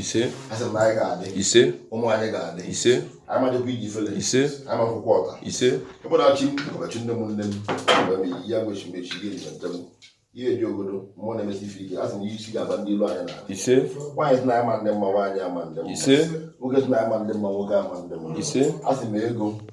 ise ise ụmụ anyị ga-adị ise amadịkwa iji ifele ise ama akwụkwọ ọta ise ebe na achị ọbachị nne m nne m mgbe m yi ya gbochi mechi ihe eji njem ihe eji obodo mmụọ na-emesi ife ike asị na ihe isi ga-aba ndị ilu anyị na ise nwaanyị sị na m ama adị mma nwaanyị ama adị mma ise nwoke sị na m ama adị mma nwoke ama adị mma ise asị m ego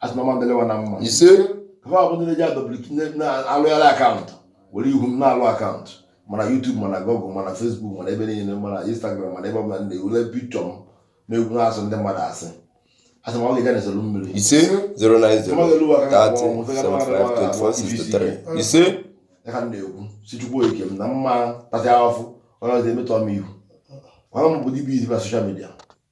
asị m ọ ma-adịlị wa na mma ise ha bụ ndị na-eji adọbliki na-alụgharị akaụntụ were ihu m na-alụ akaụntụ ma na YouTube ma na Google ma na Facebook ma na ebe niile ma na Instagram ma na ebe ọbụla na-ewelu pikchọ m na-egwu na-asị ndị mmadụ asị asị ma ọ ga-eje na-esolu mmiri ise 090 30 ise ya ka m na-ekwu sị chukwu okike m na m ma-atasị afụfụ onye ọzọ emetọ m ihu ọrụ m bụ dibia izi na soshal midia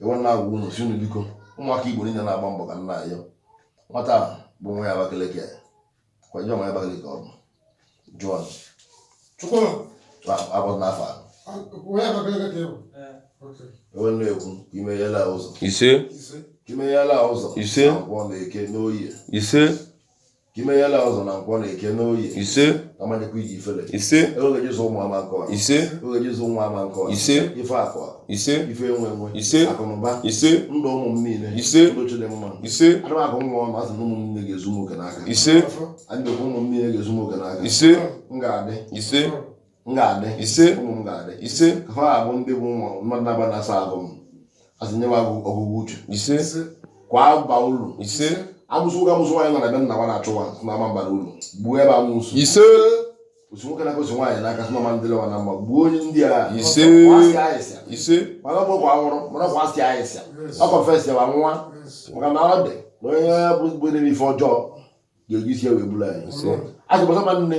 e wee na-agwa unu sị unu biko ụmụaka igbo niile na-agba mbọ ka m na-ayọ nwata ahụ bụ nwa abakaleke kwa jụọ nwa abakaleke ọ bụ jụọ chukwu agbọdụ n'afọ e wee na-ekwu i meyela ụzọ ise i meyela ụzọ ise abụọ na eke n'oye ise ka i meyela ụzọ na nkwọ na eke n'oye ise amanyekwa iji ifele ise ego eji azụ ụmụ ama akọ ha ise ego eji azụ ụmụ ama akọ ha ise ife akụ akụ ise ife enwe enwe ise akụnụba ise ndụ ụmụ m niile ise ndụ chidimma ise ana m akụ nwa ọnụ asị na ụmụ m niile ga-ezu m oke n'aka ise anyị ga-ekwu ụmụ m niile ga-ezu m oke n'aka ise m ga-adị ise m ga-adị ise ụmụ m ga-adị ise ha abụ ndị bụ ụmụ mmadụ na-aba na-asa ahụ m asị nye m ọgụgụ uche ise kwa ba ụlọ ise amusu nwoke amusu nwaanyị nọ na be nna nwa na-achụ nwa sị na ama mbara ụlọ gbuo ebe amusu ise osi nwoke na-agosi nwaanyị n'aka sị na ọ ma-adịlị wa na mma gbuo onye ndị a ise ise mana ọ bụ kwa nwụrụ mana ọ kwa asị ahịsịa ọ kọfesi ma nwa maka na ọ dị na onye ọbụla na-eme ife ọjọọ ga-eji isi ya wee buru anyị asị gbasa ma nne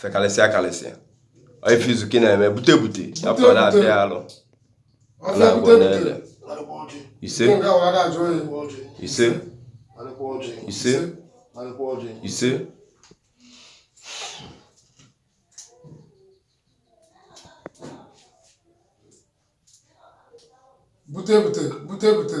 fekalịsịa kalịsịa ife izu ka ị na-eme bute bute afọ na-abịa ya alụ na-agwọ ọ na-ele ise ise ise ise bute bute bute bute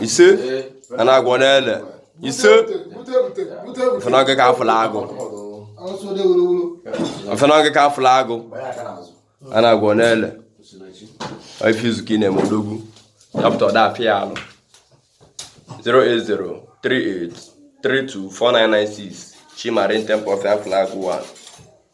ise a na-agwọ ọ na-ele ise ọfịa na ọ gị ka a fụlụ agụ ọfịa na ọ gị ka a fụlụ agụ a na-agwọ ọ na-ele ife izu ka ị na-eme odogwu dapụta ọda afịa ya alụ 08038324996 Chi Marine Temple ọfịa afụlụ agụ 1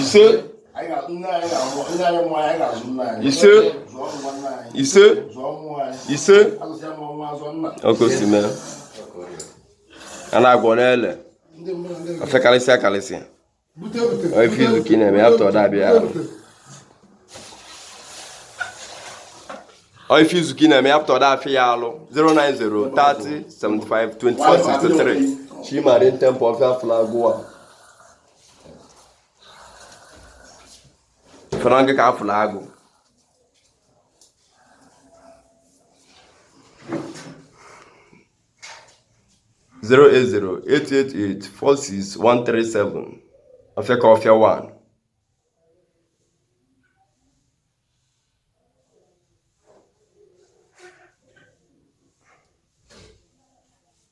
ise ise ise ise okosime a na-agwọ n'ele afekarịsịa karịsịa ife izu ka ị na-eme ya pụta ọda afịa ife izu ka ị na-eme ya pụta ọda afịa ya alụ 090 30 75 24 63 Chimarin Temple Ọfịa Fụlụ Agụ ifere ọnụ gị ka afụla agụ zero eight zero eight eight eight four six one three seven ọfịa ka ọfịa one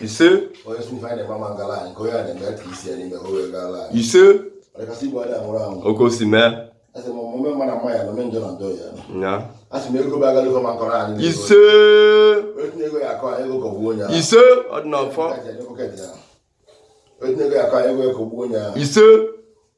ise ise okosime ise ise ọdịnafọ ise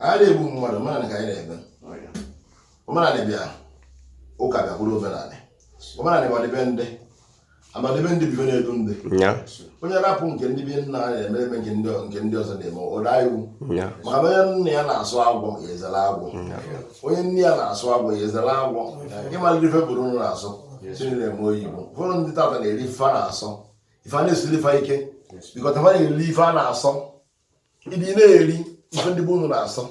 anyị ada egbu mmadụ omenala ka anyị na-eme omenala bịa ụka bịa bụrụ omenala omenala bụ ọdị be ndị ama dị be ndị bi be na-edu ndị onye rapụ nke ndị be nna anyị na-eme eme nke ndị ọzọ na-eme ọ daa iwu maka onye nna ya na-asọ agwọ ya ezere agwọ onye nne ya na-asọ agwọ ya ezere agwọ ịmalite ife be unu na-asọ si na ị na-eme oyibo ụfọdụ ndị tata na-eri ife a na-asọ ife a na-esiri ife ike bikọta fa na-eri ife a na-asọ ị dị na-eri ife ndị be unu na-asọ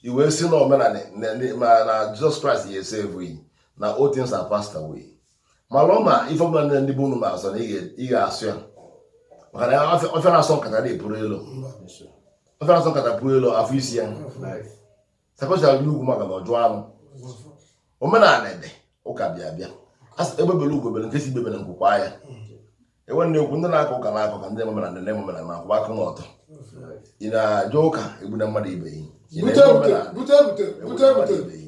i wee si na omenala ma na Jizọs Kraịst ya save yi na all things are passed away malụ ma ife ọbụla ndị be unu na-asọ na ị ga-asọ ya maka na ọfịa na-asọ nkata epule elo ọfịa na-asọ nkata puru elo a fọsịa ya sakọchara gị n'ugwu maka na ọ jụọ anụ omenala adị ụka bịa bịa asị egbe bere ugo bere nke si ibe ebela nku kwaa ya e wee na-ekwu ndị na-akọ ụka na-akọ ka ndị eme omenala eme omenala na-akwụba aka n'ọtọ ị na-eje ụka egbuna mmadụ ibe yi ị na-eme omenala egbuna mmadụ ibe yi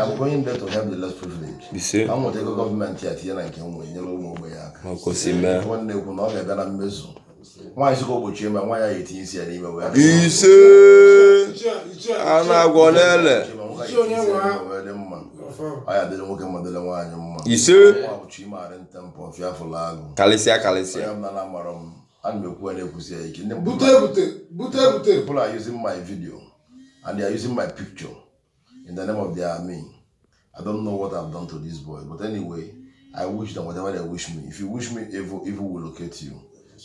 abụkwa onye ndeto ya bụ less privilege a nweta ego gọọmenti a tinye na nke nwe nyere ụmụ ogbenye aka nwanne ekwu na ọ ga-abịa na mmezu nwaanyị sịka ogbochie ma nwa ya ya etinye isi ya n'ime wee ise a na-agwọ n'ele dị mma ọ ya dịrị nwoke mma dịrị nwaanyị mma ise ọ bụ Chimarin Temple ọfịa fụlụ agụ karịsịa karịsịa ya na mara m ana m ekwu ya na-ekwusi ya ike bute bute bute bute people are using my video and they are using my picture in the name of their army i don't know what i've done to this boy but anyway i wish them whatever they wish me if you wish me evil evil will locate you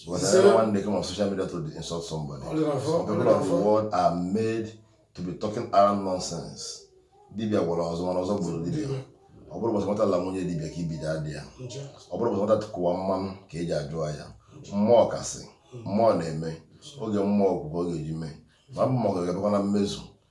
because everyone they come on social media to insult somebody some people of the world are made to be talking around nonsense dibia gwọrọ ọzọ mana ọzọ gburu dibia ọ bụrọ ụbọchị nwata la nwunye dibia ka ibi na-ada ya ọ bụrọ ụbọchị nwata tụkụwa mmanụ ka e ji ajụ ya mmụọ kasị mmụọ na-eme oge mmụọ okwukwe ọ ga-eji mee ma bụ mmụọ ga-abịakwa na mmezu